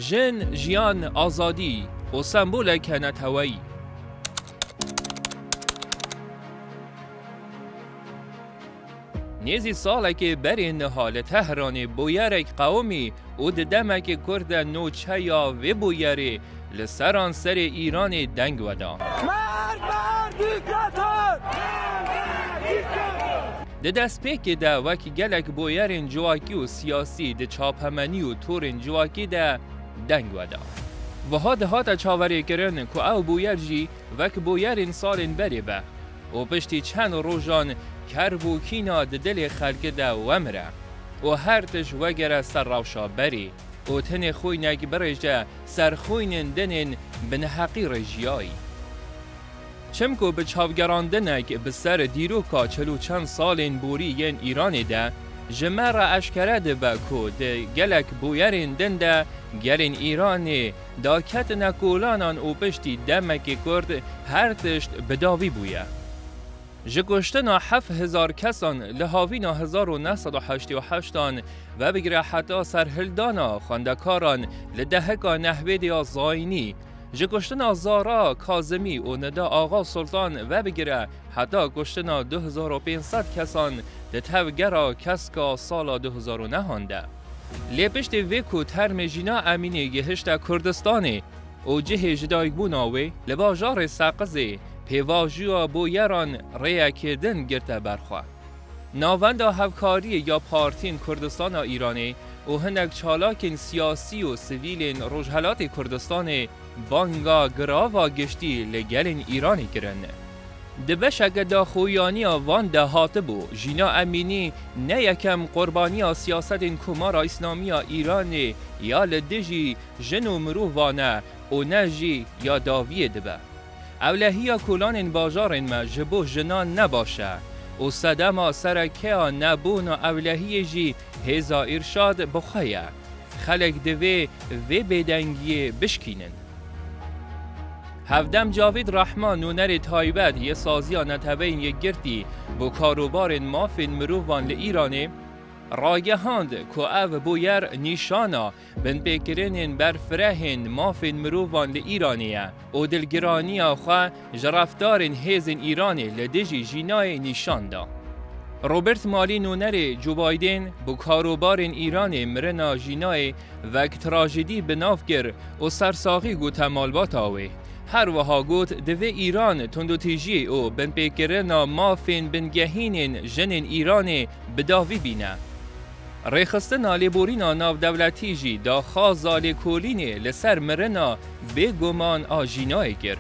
Jin, jiyan, azadî û semboleke neteweyî. Nêzî salekê berê niha li Tehranê bûyerek qewimî û di demekê ku de nûçeya vê bûyerê li seranserê Îranê deng weda. Di destpêkê de wek gelek boyerên civakî û siyasî di çapemenî û torên civakî de deng veda. Wiha dihate çaverêkirin ku ew boyer jî wek boyerên salên berê be û piştî çend rojan ker bû kîna di dilê xelkî de wemire û her tişt wegere ser rewşa berê û tenê xoynek birêje ser xoynên dinên bineheqî rê jiyayî. Çimku bi çavgerandinek bi ser dîroka çil û çend salên borî yên Îranê de ji me re eşkere dibe ku di gelek bûyerên din de gelên Îranê daketine kolanan û piştî demekê kurd her tişt bi dawî bûye. Ji kuştina heft hezar kesan li havîna hezar û neh sed û heştê û heşt an vebigire heta serhildana xwendekaran li deheka Nehwêdê ya Zaynî, Ji kuştina Zara, Kazimî û Nida Axa Sultan vebigire heta kuştina du hezar û pênc sed kesan di tevgera keska sala du hezar û nehan de. Lê piştî vê ku termê Jîna Emînî gihişte Kurdistanê û cihê jidayîkbûna wê li bajarê Seqizê, pêvajoya boyeran rêyekê din girte ber xwe. Navenda hevkariyê ya partiyên Kurdistan a Îranê û hinek çalakên siyasî û sivîlên Rojhelatê Kurdistanê banga girava giştî li gelên Îranê kirin. Di beşeke daxuyaniya van de hatibû, Jîna Emînî ne yekem qurbaniya siyasetên Komara Îslamî ya Îranê ya li dijî jin û mirovan e û ne jî ya dawiyê dibe. Ewlehiya kolanên bajarên me ji bo jinan ne baş e û sedema serekeya nebûna ewlehiyê jî hêza Irşad bi xwe ye. Xelek divê vê bêdengiyê bişkînin. Hevdem Cavîd Rehman nûnerê taybet yê Saziya Neteweyên Yekgirtî bo Karobarên Mafên Mirovan li Îranê, ragehand ku ev bûyer nîşana Binpêkirinên berfirehên mafên mirovan li Îranê ye û dilgiraniya xwe ji refdarên hêzên Îranê li dijî jînayê nîşan da. Robert Malî Nûnerê Joe Biden bi karobarên Îranê mirina jînayê wek trajedî bi nav kir û sersaxî gote malbata wê. Her wiha got divê Îran tundûtîjî û binpêkirina mafên bingehînên jinên Îranê bi davî bîne. Rêxistina lêborîna navdewletî jî daxwaza lêkolînê li ser mirina bêguman a Jînayê kir.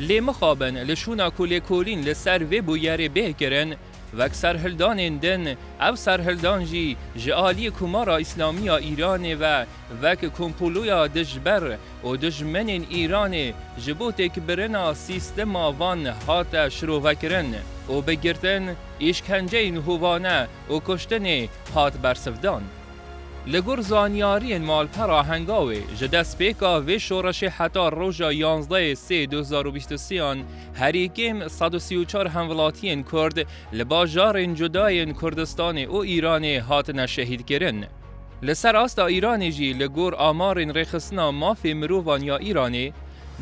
Lê mixabin li şûna ku lêkolîn li ser vê bûyerê bê kirin, wek serhildanên din, ev serhildan jî ji aliyê Komara Îslamî ya Îranê ve wek kompoloya dijber û dijmenên Îranê ji bo têkbirina sîstema van hate şirovekirin û bi girtin, îşkenceyên hovane, û kuştinê hat bersivdan. Li gor zanyariyên malpera Hengawê, ji destpêka vê şoreşê heta roja yanzdeyê sê du hezar û bîst û sê an herî kêm sed û sî û çar hemvilatiyên Kurd li bajarên cuda yên Kurdistanê û Îranê hatine şehîdkirin. Li ser asta Îranê jî li gor amarên rêxistina mafê mirovan ya Îranê,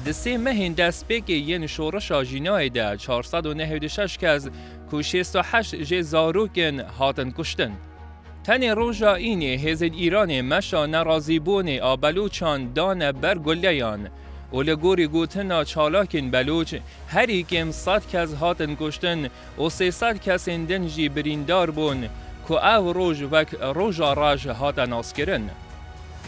di sê mehên destpêkê yên şoreşa jînayê de çar sed û nehêd û şeş kes ku şêst û heşt jê zarok in hatin kuştin. Tenê roja înê hêzên Îranê meşa nerazîbûnê a Beluçan dane ber guleyan û li gorî gotina çalakên Beluç herî kêm sed kes hatin kuştin û sê sed kesên din jî birîndar bûn ku ev roj wek Roja Reş hate naskirin.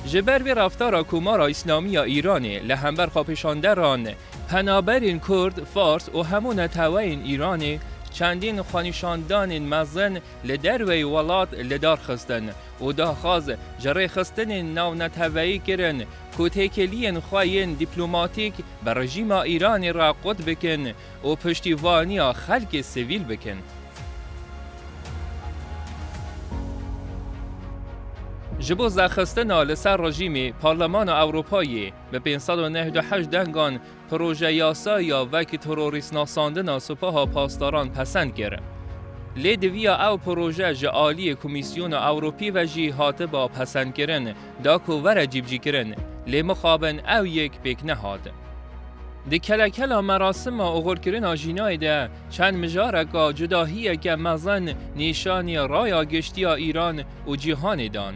Ji ber vê reftara Komara Îslamî ya Îranê li hember xwepêşanderan, Penaberên Kurd, Fars û hemû neteweyên Îranê çendîn xwenîşandanên mezin li derveyî welat li dar xistin û daxwaz ji rêxistinên navneteweyî kirin ku têkiliyên xwe yên dîplomatîk bi rejîma Îranê re qut bikin û piştîvaniya xelkê sivîl bikin. Ji bo zexistina li ser rejîmê, Parlemana Ewropayê, Bi pênc sed û neh du heşt dengan projeyasa ya vek terorîstnasandina Sipaha Pasdaran pesend kir. Lê diviya ew proje ji aliyê Komîsyona Ewropî ve jî hatiba pesendkirin da ku were cîbicîkirin, lê mixabin ew yek pêk nehat. Di kelekela merasima oxirkirina jînayê de çend mijareka cudahiyeke mezin nîşanî raya giştî ya Îran û cîhanê dan.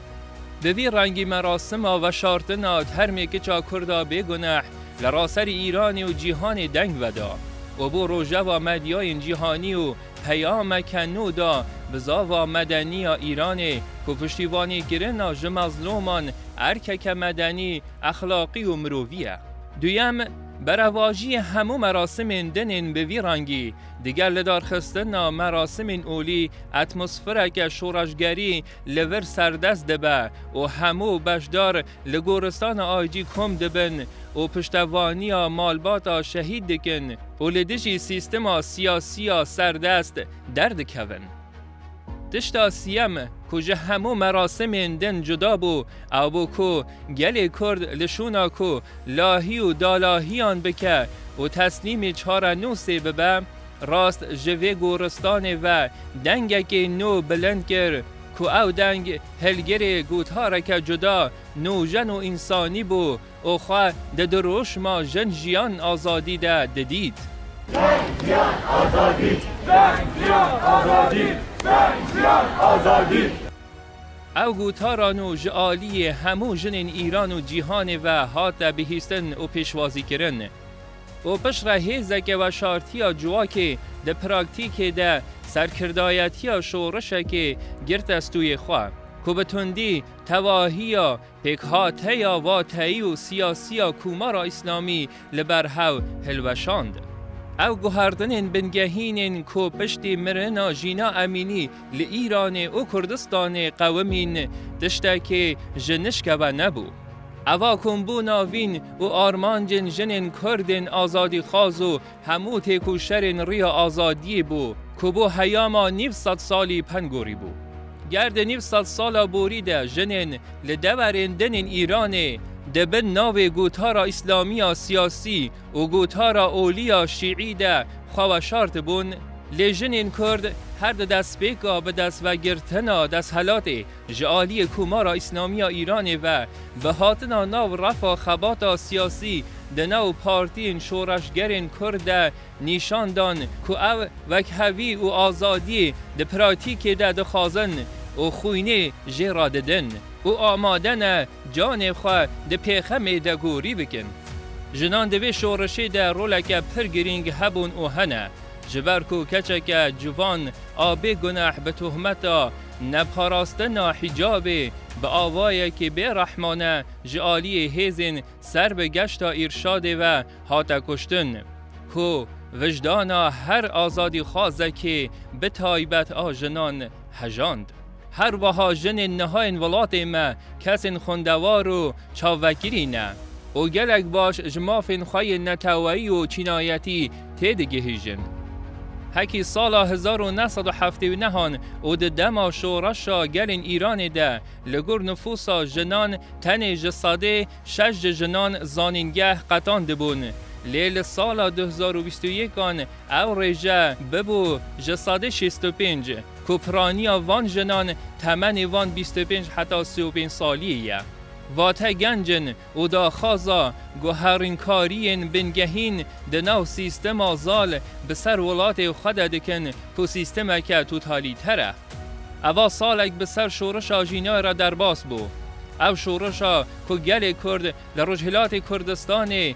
Bi vî rengî merasima veşartina termê kiça kurd a bêguneh li raserî Îranê û cîhanê deng veda û bo rojeva medyayên cîhanî û peyameke nû da bi zava medenî ya Îranê ku piştîvanî kirina ji mezlûman erkeke medenî, exlaqî û mirovî ye. Duyem, berevajiyê hemû merasimên din ên bi vî rengî, digel lidarxistina merasimên olî, atmosfereke şoreşgerî, li vir serdest dibe û hemû beşdar li goristana Aycî kom dibin û piştevaniya malbata şehîd dikin û li dijî sîstema siyasî ya serdest derdikevin. Tişta siyem ku ji hemû merasimên din cuda bû ew bû ku gelê Kurd li şûna ku lahî û dalahiyan bike û teslîmî çarenûsê bibe, Rast ji vê goristanê ve dengekê nû bilind kir ku ew deng hilgirê gotareke cuda, nojen û însanî bû û xwe di dirûşma Jin Jiyan Azadî de didît. Jin Jiyan Azadî! Jin Jiyan Azadî! Jin Jiyan Azadî! Ew gotara nû ji aliyê hemû jinên Îran û cîhanê ve hate bihîstin û pêşwazîkirin. û piştre hêzeke veşartiya civakê di praktîkê de serkirdayetiya şorişekê girte stûyê xwe, ku bi tundî tevahiya pêkhateya vateyî û siyasiya Komara Îslamî li ber hev hilweşand. Ew guherdinên bingehîn ên ku piştî mirina Jîna Emînî, Li Îranê û Kurdistanê qewimîn tiştekî ji nişke ve nebû. Eva kombûna vîn û armancên jinên Kurdên azadîxwaz û hemû têkoşerên riya azadiyê bû ku bo heyama nîv sed salî peng gorî bû. Ger di nîv sed sala borî de jinên li deverên dinên Îranê di bin navê gotara Îslamiya siyasî û gotara oliya şîî de xwe weşartibûn, lê jinên kurd her di destpêka bi destvegrtina desthilatê ji aliyê Komara Îslamiya Îranê ve bi hatina nav refa xebata siyasî di nav partiyên şoreşgerên kurd de nîşan dan ku ev wekhevî û azadiyê di pratîkê de dixwazin û xwînê jê re didin. û amade ne canê xwe di pêxemê de gorî bikin. Jinan di vê şoreşê de roleke pir girîng hebûn û hene. Ji ber ku keçeke civan a bê guneh bi tohmeta neparastina hicabê bi awayekî bê rehmane ji aliyê hêzên ser bi geşta Îrşadê ve hate kuştin ku vijdana her azadîxwazekê bi taybet a jinan hejand. Her weha jinên niha yên welatê me kesên xwendewar û çavvekirî ne û gelek baş ji mafên xwe yên neteweyî û çînayetî têdigihîjin. Hekî sala hezar û neh sed û heftê û neh an û di dema şoreşa gelên Îranê de li gor nifûsa jinan tenê ji sedê şeş ji jinan zanîngeh qetandibûn lê li sala du hezar û bîst û yek an Ew rêje bibû ji sedê şêst û pênc ku piraniya van jinan temenê wan bîst û pênc heta sê û pênc saliyê ye. Vate genc in û daxwaza guherînkariyên bingehîn di nav sîstema zal bi ser welatê xwe de dikin ku sîstemeke totalîter e. Eva salek bi ser şorişa jînayê re derbas bû. Ew şorişa ku gelê Kurd li Rojhilatê Kurdistanê